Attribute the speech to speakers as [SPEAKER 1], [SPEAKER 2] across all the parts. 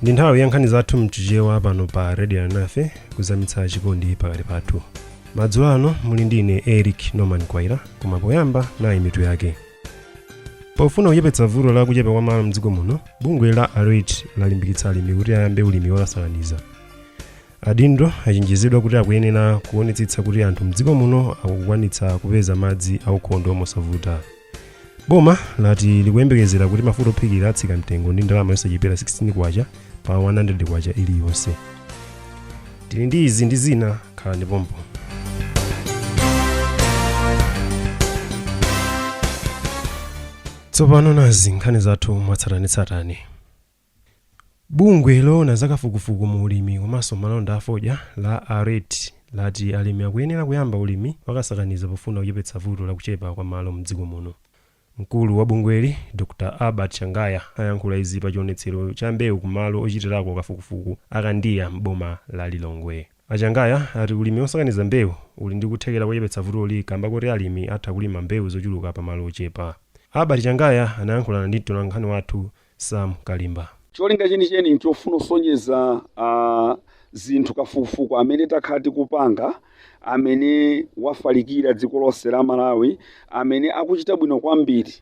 [SPEAKER 1] ndi nthawi ya nkhani zathu mchichewa pano pa radio nafe kuzamitsa chikondi pakati pathu madzulo ano muli ndi ine eric norman mkwaira koma poyamba nayi mitu yake pofuna kuchepetsa vuto la kuchepa kwa malo mdziko muno bungwe la aret lalimbikitsa alimi kuti ayambe ulimi wakasakaniza adindo achenjezedwa kuti akuyenera kuonetsetsa kuti anthu mdziko muno akukwanitsa kupeza madzi aukhondo mosavuta boma lati likuyembekezera kuti mafuta ophikira atsika mtengo ndi ndalama yosachepera 16 kwacha pa 100 kwacha iliyonse tili ndi izi ndi zina khalani pompo tsopano nazi nkhani zathu mwatsatanetsatane bungwe loona zakafukufuku mu ulimi komanso malonda afodya la aret lati alimi akuyenera kuyamba ulimi wakasakaniza pofuna kuchepetsa vuto la kuchepa kwa malo mdziko muno Mkulu wa bungweli, Dr Albert Changaya, ayankhula izi pa chionetsero cha mbewu ku malo ochitirako kafukufuku a Kandiya m'boma la Lilongwe. A Changaya ati ulimi osakaniza mbewu uli ndi kuthekera kochepetsa vutoli kamba koti alimi atha kulima mbewu zochuluka pa malo ochepa. Albert Changaya anayankhulana ndi mtolankhani wathu Sam Kalimba. Cholinga
[SPEAKER 2] chenicheni n'chofuna kusonyeza a zinthu kafukufuku amene takha tikupanga amene wafalikira dziko lonse la Malawi amene akuchita bwino kwambiri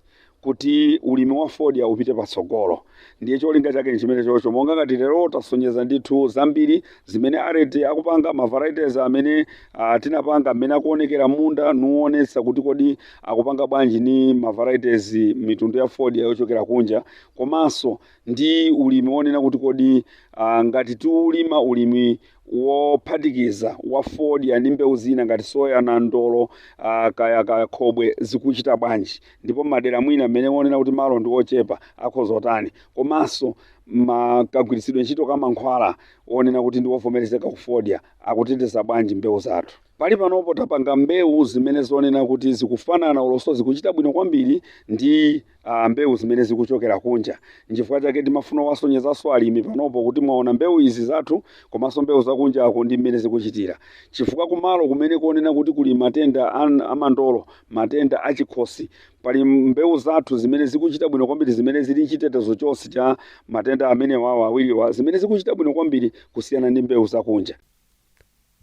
[SPEAKER 2] kuti ulimi wa fodya upite patsogolo ndiye cholinga chake ndi chimenechocho monga ngati lero tasonyeza ndithu zambiri zimene ARET akupanga ma varieties amene ah, tinapanga mmene akuonekera m'munda nuonetsa kuti kodi akupanga bwanji ni ma varieties mitundu ya fodya yochokera kunja komanso ndi ulimi wonena kuti kodi uh, ngati tiulima ulimi wophatikiza wa fodya ndi mbewu zina ngati soya nandolo uh, kaya kaya khobwe zikuchita bwanji ndipo madera mwina amene wonena kuti malo ndi ochepa akhoza kutani komanso makagwiritsidwe ntchito ka mankhwala onena kuti ndi wovomerezeka kufodya akuteteza bwanji mbewu zathu Pali panopo tapanga mbewu zimene zonena kuti zikufanana olonso zikuchita bwino kwambiri ndi a mbewu zimene zikuchokera kunja. N'chifukwa chake timafuna kuwasonyezanso alimi panopo kuti mwaona mbewu izi zathu komanso mbewu zakunjako ndi mmene zikuchitira. Chifukwa kumalo kumene konena kuti kuli matenda a a mandolo, matenda a chikhosi, pali mbewu zathu zimene zikuchita bwino kwambiri zimene zili n'chitetezo chonse cha matenda amenewawa awiriwa zimene zikuchita bwino kwambiri kusiyana ndi mbewu zakunja.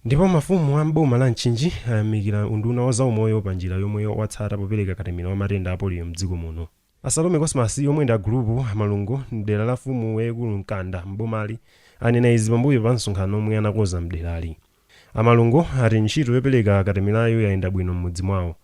[SPEAKER 2] Ndipo
[SPEAKER 1] mafumu a m'boma la Mchinji ayamikira unduna wa zaumoyo pa njira yomwe watsata popereka katemera wa matenda a poliyo m'dziko muno. A Salome Cosmas omwe ndi a gulupu a Malungo m'dera la mfumu yaikulu Mkanda m'bomali anena izi pambuyo pa msonkhano omwe anakoza m'derali. A Malungo ati ntchito yopereka katemerayu yayenda bwino m'mudzi mwawo.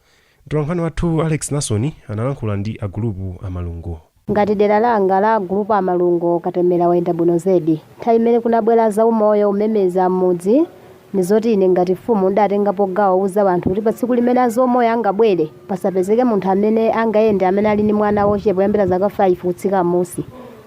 [SPEAKER 1] Mtolankhani wathu Alex Nasoni analankhula ndi a Gulupu a Malungo. Ngati dera
[SPEAKER 3] langa la a Gulupu a Malungo katemera wayenda bwino zedi. Nthawi imene kunabwera a zaumoyo kumemeza am'mudzi ndi zoti ine ngati mfumu ndidatengapo gawo kuuza wanthu kuti patsiku limene a zaumoyo angabwere pasapezeke munthu amene angayende amene ali ndi mwana wochepa kuyambira zaka 5 kutsika m'musi.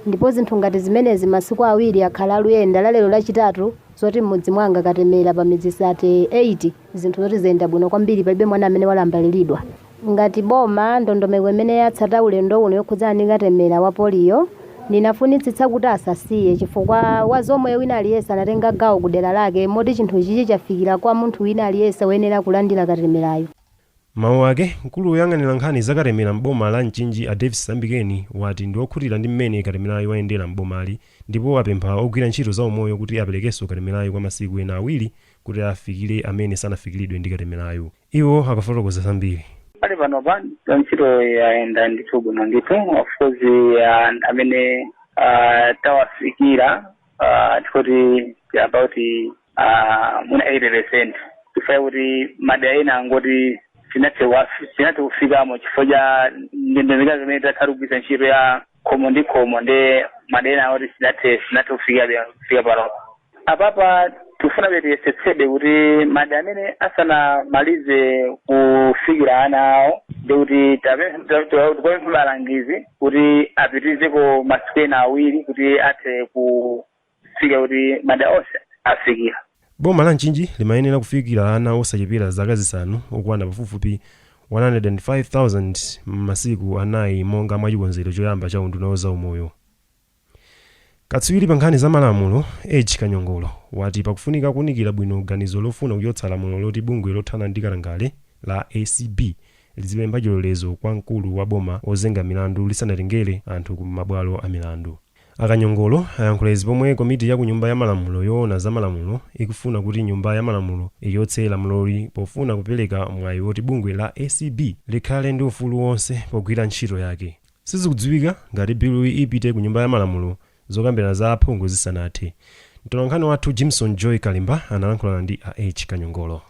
[SPEAKER 3] Ndipo zinthu ngati zimenezi masiku awiri akhala aluyenda, la lero lachitatu zoti m'mudzi mwanga katemera pa midzi 38. zinthu zoti zayenda bwino kwambiri palibe mwana amene walambaliridwa ngati boma ndondomeko imene yatsata ulendo uno yokhudzana ndi katemera wa poliyo ndinafunitsitsa kuti asasiye chifukwa wa zaumoyo wina aliyense anatenga gawo ku dera lake moti chinthu chichi chafikira kwa munthu wina aliyense woyenera kulandira katemerayo M'mawu
[SPEAKER 1] ake, mkulu woyang'anira nkhani za katemera m'boma la Mchinji a Davis Sambikeni wati ndi wokhutira ndi mmene katemerayu wayendera m'bomali ndipo apempha ogwira ntchito za umoyo kuti aperekenso katemerayu kwa masiku ena awiri kuti afikire amene sanafikilidwe ndi katemerayu. Iwo akafotokoza zambiri. Pali
[SPEAKER 4] panopa ntchito yayenda ndithu bwino ndithu of course amene tawafikira tikati about 80. Ah, mwina 80 percent chifukwa chakuti madera ena angoti sitinathe sitinathe kufikamo chifukwa cha ndondomeko imene takhala kugwiritsa ntchito ya khomo ndi khomo ndiye madera ena oti sitinathe sitinathe kufikabe kufika panopa apapa tikufunabe tiyesetsebe kuti madera amene asanamalize kufikira ana awo ndiye kuti tapempha alangizi kuti apitirizeko masiku ena awiri kuti athe ku fika kuti madera onse afikira. Boma la
[SPEAKER 1] Mchinji limayenera kufikira ana osachepera zaka zisanu okwana pafupifupi 105,000 m'masiku anayi monga mwa chikonzero choyamba cha unduna wa zaumoyo. Katswiri pa nkhani za malamulo, Edge Kanyongolo, wati pakufunika kuunikira bwino ganizo lofuna kuchotsa lamulo loti bungwe lothana ndi katangale la acb lizipempha chilolezo kwa mkulu wa boma wozenga milandu lisanatengere anthu ku mabwalo a milandu. A Kanyongolo ayankhula izi pomwe komiti ya ku nyumba ya malamulo yoona za malamulo ikufuna kuti nyumba ya malamulo ichotse lamuloli pofuna kupereka mwayi woti bungwe la acb likhale ndi ufulu wonse pogwira ntchito yake. Sizikudziwika ngati biluyi ipite ku nyumba ya malamulo zokambirana za aphungu zisanathe. Mtolankhani wathu Jimson Joy Kalimba analankhulana ndi a Edge Kanyongolo.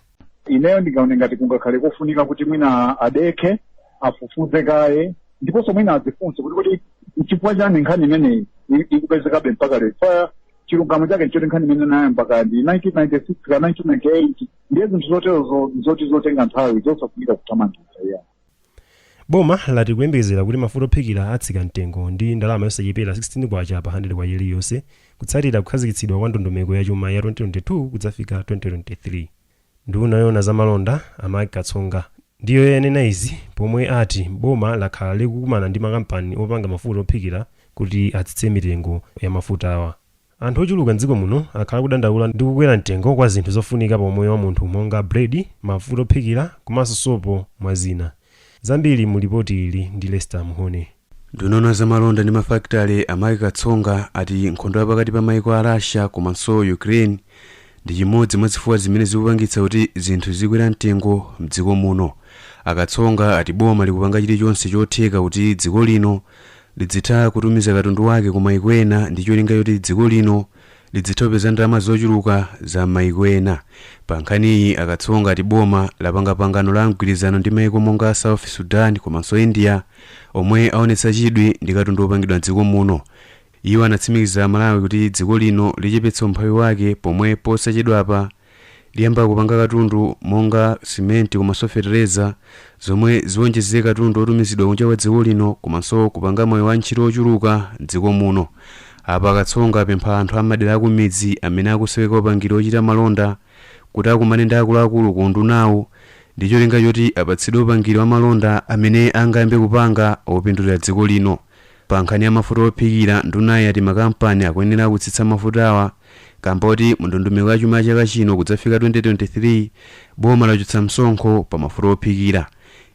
[SPEAKER 1] ineyo
[SPEAKER 5] ndingaone ngati kungakhale kofunika kuti mwina adekhe afufuze kaye ndiponso mwina adzifunse kuti kuti nchifukwa chani nkhani imeneyi i- ikupezekabe mpaka lero fa chilungamo chake nchoti nkhani imene inayambika ndi 1996 ka 1998 ndiye zinthu zoterozo zoti zotenga nthawi zosafunika kuthamangitsira yeah. Boma
[SPEAKER 1] lati likuyembekezera kuti mafuta ophikira atsika mtengo ndi ndalama yosachepera K16 pa handiredi kwacha iliyonse kutsatira kukhazikitsidwa kwa ndondomeko ya chuma ya 2022 kudzafika 2023. Nduna yoona za malonda, a Mark Katsonga, ndiyo yanena izi pomwe ati boma lakhala likukumana ndi makampani opanga mafuta ophikira kuti atsitse mitengo ya mafutawa. Anthu ochuluka m'dziko muno akhala akudandaula ndi kukwera mtengo kwa zinthu zofunika pa umoyo wa munthu monga bread, mafuta ophikira komanso sopo mwa zina. Zambiri mu lipoti ili ndi Lester Muhone. Nduna yoona za
[SPEAKER 6] malonda ndi mafakitale a Mark Katsonga ati nkhondo ya pakati pa maiko a Russia komanso Ukraine ndi chimodzi mwa zifukwa zimene zikupangitsa kuti zinthu zizikwera mtengo m'dziko muno. A Katsonga ati boma likupanga chilichonse chotheka kuti dziko lino lidzitha kutumiza katundu wake ku maiko ena ndi cholinga choti dziko lino lidzitha kupeza ndalama zochuluka za m'maiko ena. Pa nkhaniyi, a Katsonga ati boma lapanga pangano la mgwirizano ndi maiko monga South Sudan komanso India omwe aonetsa chidwi ndi katundu wopangidwa m'dziko muno. Iwo anatsimikiza Amalawi kuti dziko lino lichepetsa umphawi wake pomwe posachedwapa, Liyamba kupanga katundu monga simenti komanso fetereza zomwe ziwonjezere katundu wotumizidwa kunja kwa dziko lino komanso kupanga mwayi wa ntchito wochuluka m'dziko muno. Apa a Katsonga apempha anthu a m'madera akumidzi amene akusoweka upangiri wochita malonda kuti akumane ndi akuluakulu ku undunawu ndi cholinga choti apatsidwe upangiri wa malonda amene angayambe kupanga wopindulira dziko lino. Pa nkhani ya mafuta ophikira, ndunayi yati makampani akuyenera kutsitsa mafutawa kamba koti mu ndondomeko ya chuma ya chaka chino kudzafika 2023, boma lachotsa msonkho pa mafuta ophikira.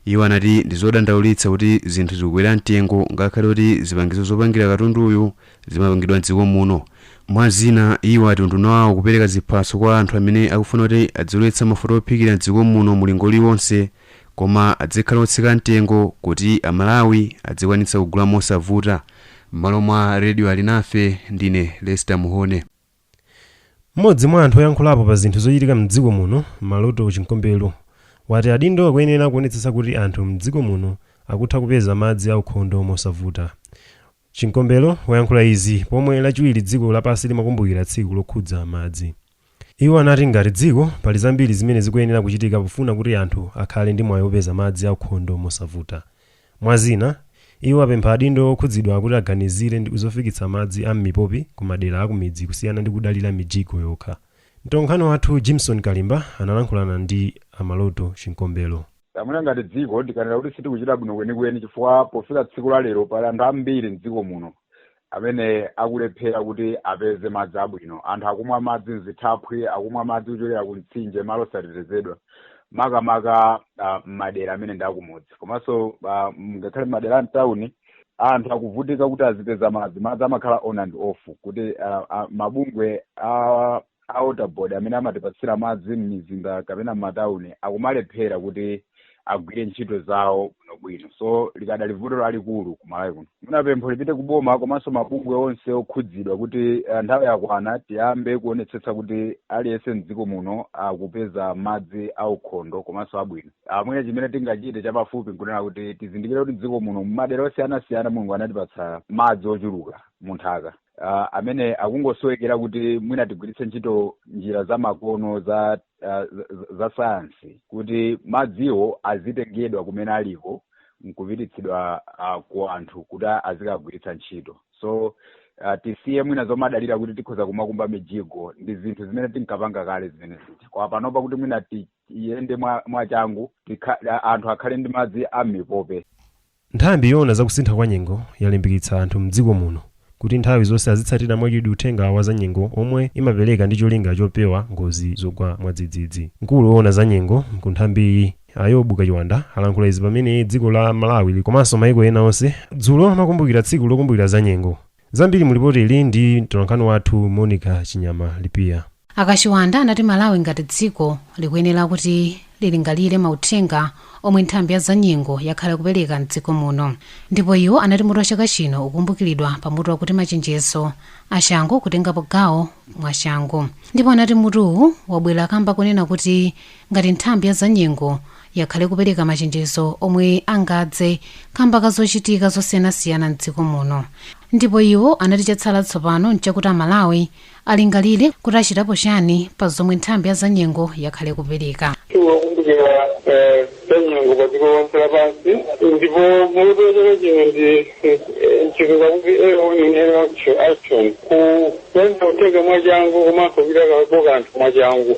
[SPEAKER 6] Iwo anati ndi zodandaulitsa kuti zinthu zikukwera mtengo ngakhale kuti zipangizo zopangira katunduyu zimapangidwa m'dziko muno. Mwa zina, iwo ati unduna wawo ukupereka ziphaso kwa anthu amene akufuna kuti adzilowetsa mafuta ophikira m'dziko muno mulingo uliwonse. Koma adzikhala otsika mtengo kuti a Malawi adzikwanitsa kugula mosavuta. M'malo mwa Radio Alinafe, ndine Lester Muhone.
[SPEAKER 1] M'modzi mwa anthu oyankhulapo pa zinthu zochitika m'dziko muno, Maloto Chinkombelo, wati adindo akuyenera kuonetsetsa kuti anthu m'dziko muno akutha kupeza madzi aukhondo mosavuta. Chinkombelo wayankhula izi pomwe lachiwiri dziko lapansi limakumbukira tsiku lokhudza madzi. Iwo anati ngati dziko, pali zambiri zimene zikuyenera kuchitika pofuna kuti anthu akhale ndi mwayi opeza madzi aukhondo mosavuta. Mwa zina, iwo apempha adindo okhudzidwa kuti aganizire ndi zofikitsa madzi a m'mipopi ku madera akumidzi kusiyana ndi kudalira mijigo yokha. Mtolankhani wathu Jimson Kalimba analankhulana ndi a Maloto Chinkombelo. Ah, mwina ngati dziko
[SPEAKER 7] ndikanena kuti sitikuchita bwino kwenikweni chifukwa pofika tsiku la lero pali anthu ambiri m'dziko muno amene akulephera kuti apeze madzi abwino anthu akumwa madzi mzithaphwi akumwa madzi kuchokera ku mtsinje malo osatetezedwa makamaka ah, m'madera amene ndi akumudzi komanso ah, ngakhale m'madera a mtawuni anthu akuvutika kuti azipeza madzi madzi amakhala on and off kuti ah, ah, mabungwe a a water board amene amatipatsira madzi m'mizinda kapena m'matauni akumalephera kuti agwire ntchito zawo bwinobwino so likadali vuto lalikulu ku malawi kuno mwina pempho lipite ku boma komanso mabungwe onse okhudzidwa kuti eh, nthawi yakwana tiyambe kuonetsetsa kuti aliyense mdziko muno akupeza madzi aukhondo komanso abwino ah, mwina chimene tingachite chapafupi nkunena kuti tizindikire kuti mdziko muno m'madera osiyanasiyana mulungu anatipatsa madzi ochuluka munthaka uh, amene akungosowekera kuti mwina tigwiritse ntchito njira za makono za uh, za- za sayansi kuti madziwo azitengedwa kumene aliko nkupititsidwa uh, ku anthu kuti azikagwiritsa ntchito so uh, tisiye mwina zomadalira kuti tikhoza kumakumba mijigo ndi zinthu zimene tinkapanga kale zimene zija kwa panopa kuti mwina tiyende mwa- mwachangu tikha- anthu akhale ndi madzi a m'mipope
[SPEAKER 1] Nthambi yoona za kusintha kwa nyengo yalimbikitsa anthu m'dziko muno kuti nthawi zonse azitsatira mwachidwi uthenga wa zanyengo omwe imapereka ndi cholinga chopewa ngozi zogwa mwadzidzidzi. Mkulu oona za nyengo ku nthambi a Yobu Kachiwanda alankhula izi pamene dziko la Malawi komanso maiko ena onse dzulo amakumbukira tsiku lokumbukira zanyengo. Zambiri mu lipoti ili ndi mtolankhani wathu Monica Chinyama Lipiya. A Kachiwanda anati
[SPEAKER 8] Malawi ngati dziko likuyenera kuti lilingalire mauthenga omwe nthambi ya zanyengo yakhala ikupereka m'dziko muno. Ndipo iwo anati mutu wa chaka chino ukukumbukiridwa pa mutu wakuti machenjezo a changu kutengapo gawo mwa changu. Ndipo anati mutuwu wabwera kamba konena kuti ngati nthambi ya zanyengo yakhala ikupereka machenjezo omwe angadze kamba ka zochitika zosiyanasiyana m'dziko muno ndipo iwo anati chatsala tsopano nchakuti amalawi alingalire kuti achitapo chani pa zomwe nthambi ya zanyengo yakhala ikupereka tsiku lokumbukira
[SPEAKER 9] eh, zanyengo pa dziko lonse lapansi ndipo mutu wachaka chino ndi eh, mchitidwe kuti early warning early action kuchenjeza kutenga mwachangu komanso kuchitapo kanthu mwachangu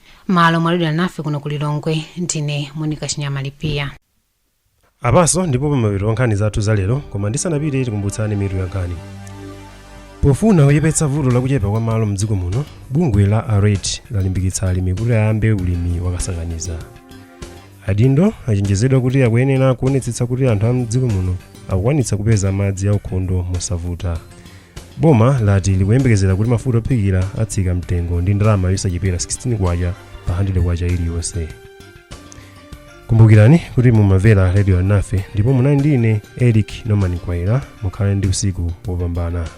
[SPEAKER 8] malo mwalowera nafe kuno ku lilongwe ndine monika chinyama
[SPEAKER 1] lipiya apaso ndipo pamapeto pa nkhani zathu za lero koma ndisanapite tikumbutsane mitu ya nkhani pofuna kuchepetsa vuto lakuchepa kwa malo mdziko muno bungwe la aret lalimbikitsa alimi kuti ayambe ulimi wakasakaniza Adindo achenjezedwa kuti akuyenera kuonetsetsa kuti anthu a mdziko muno akukwanitsa kupeza madzi aukhondo mosavuta. Boma lati likuyembekezera kuti mafuta ophikira atsika mtengo ndi ndalama yosachepera 16 kwacha pa 100 kwacha iliyonse. Kumbukirani kuti mumamvera Radio Alinafe ndipo munali ndi ine Eric Norman Kwaera mukhale ndi usiku wopambana.